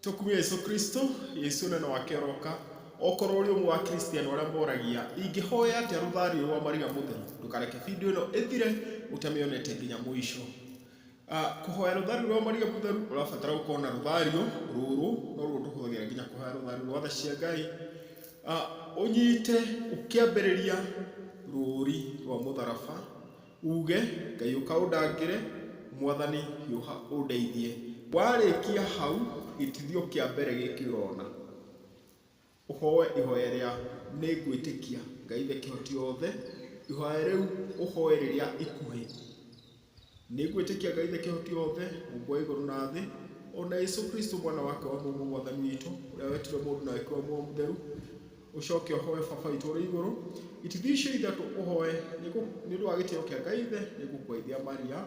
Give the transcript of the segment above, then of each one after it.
Tũkumie Jesũ Kristo, Jesũ ũnene wake ũroka, Okorwo ũrĩ ũmwe wa Akristiano arĩa moragia, ingĩhoya atĩa rũthario ũyũ wa Maria Mũtheru? Ndũkareke video ĩno ĩthire ũtamĩonete nginya mũico. Ah, kũhoya rũthario rwa Maria Mũtheru ũrabatara gũkorwo na rũthario rũrũ, noruo tũhũthagĩra nginya kũhoya rũthario rwa tha cia Ngai. Ah, ũnyite ũkĩambĩrĩria rũũri rwa mũtharaba, Uuge, Ngai ũka ũndangĩre, Mwathani hiũha ũndeithie. Warĩkia hau, gĩtithio kĩa mbere gĩkĩ ũrona, ũhoe ihoya rĩa nĩ ngwĩtĩkia Ngai Ithe Kĩhoti-othe, ihoya rĩu ũhoe rĩrĩa ikuhĩ. Nĩ ngwĩtĩkia Ngai Ithe Kĩhoti-othe, Mũmbi wa igũrũ na thĩ, o na Jesũ Kristo mwana wake wa mũmwe Mwathani witũ, ũrĩa wetirwo mũndũ na agĩkĩrwo muoyo mũtheru, Ũcooke ũhooe Baba witũ ũrĩ igũrũ. Itithio icio ithatũ ũhooe nĩ gũ- nĩ ũndũ wa gĩtĩo kĩa Ngai Ithe, nĩ ngũkũgeithia Maria.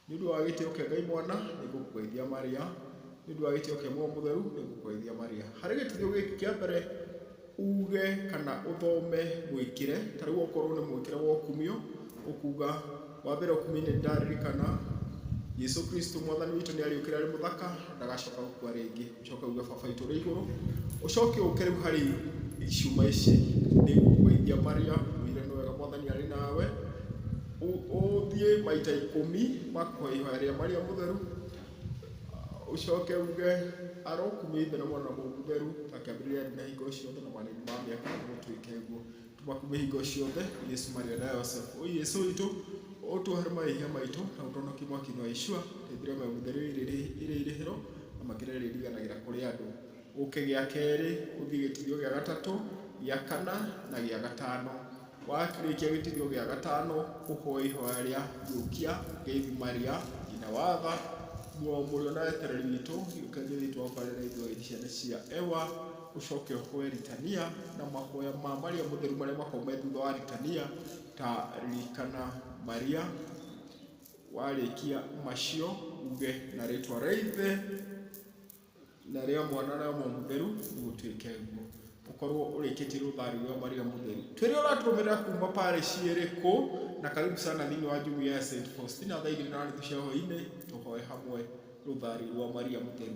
Nĩ ũndũ wa gĩtĩo kĩa Ngai Mwana, nĩ ngũkũgeithia Maria. Nĩ ũndũ wa gĩtĩo kĩa Muoyo Mũtheru, nĩ ngũkũgeithia Maria. Harĩ gĩtithio gĩkĩ kĩa mbere, uuge kana ũthome mũĩkĩre. Ta rĩu okorwo nĩ mũĩkĩre wa ũkumio, ũkuuga, Wa mbere ũkumio-inĩ nĩ ndaririkana, Jesu Kristo Mwathani witũ nĩ aariũkire arĩ mũthaka, ndagacooka gũkua rĩngĩ. Coka uge, Baba witũ ũrĩ igũrũ, ũcoke ũke rĩu harĩ ciũma ici, nĩ ngũkũgeithia Maria, ũire nĩ wega Mwathani arĩ nawe, ũthiĩ maita ikũmi makũhoya ihoya rĩa Maria mũtheru, ũcoke uge, arokumia Ithe na Mwana na Mũndũ Mũtheru, na kĩambĩrĩria rĩu na hingo ciothe na marĩrĩ ma mĩaka, na gũtuĩke ũguo. Tũmakume hingo ciothe, Yesu Maria na Yosefu. O Yesu witũ, ũtuohere mahĩhia maitũ na ũtũhonokie mwaki-inĩ wa Yeshua, rĩthĩro me mũtheru ĩrĩ irĩhĩro na makĩria rĩriganagĩra kũrĩ andũ. Ũke gĩa kerĩ, ũthiĩ gĩtithio gĩa gatatũ, gĩa kana na gĩa gatano. Warĩkia gĩtithio gĩa gatano, ũhoe ihoya rĩa gĩũkia, ngeithi Maria, nyina wa tha, mũrũ wa mũrĩo na wetereri witũ, gĩũkia ngeithi twakwa rĩrĩa ithuothe ciana cia Eva. Ũcoke ũhoe ritania na mahoya ma marĩa mũtheru marĩa makoragwo me thutha wa ritania ta ririkana Maria, warĩkia macio uge na rĩtwa rĩa Ithe na rĩa Mwana na rĩa Roho Mũtheru gũtuĩke guo. Ũkorwo ũrĩkĩtie rũtharĩ rwa Maria Mũtheru. Twĩre ũratũrũmĩrĩra kuma parish ĩrĩkũ na karibu sana thĩinĩ wa jumuiya ya St. Faustina thaa igĩrĩ na nuthu cia hwaĩ-inĩ tũhoe hamwe rũtharĩ rwa Maria Mũtheru.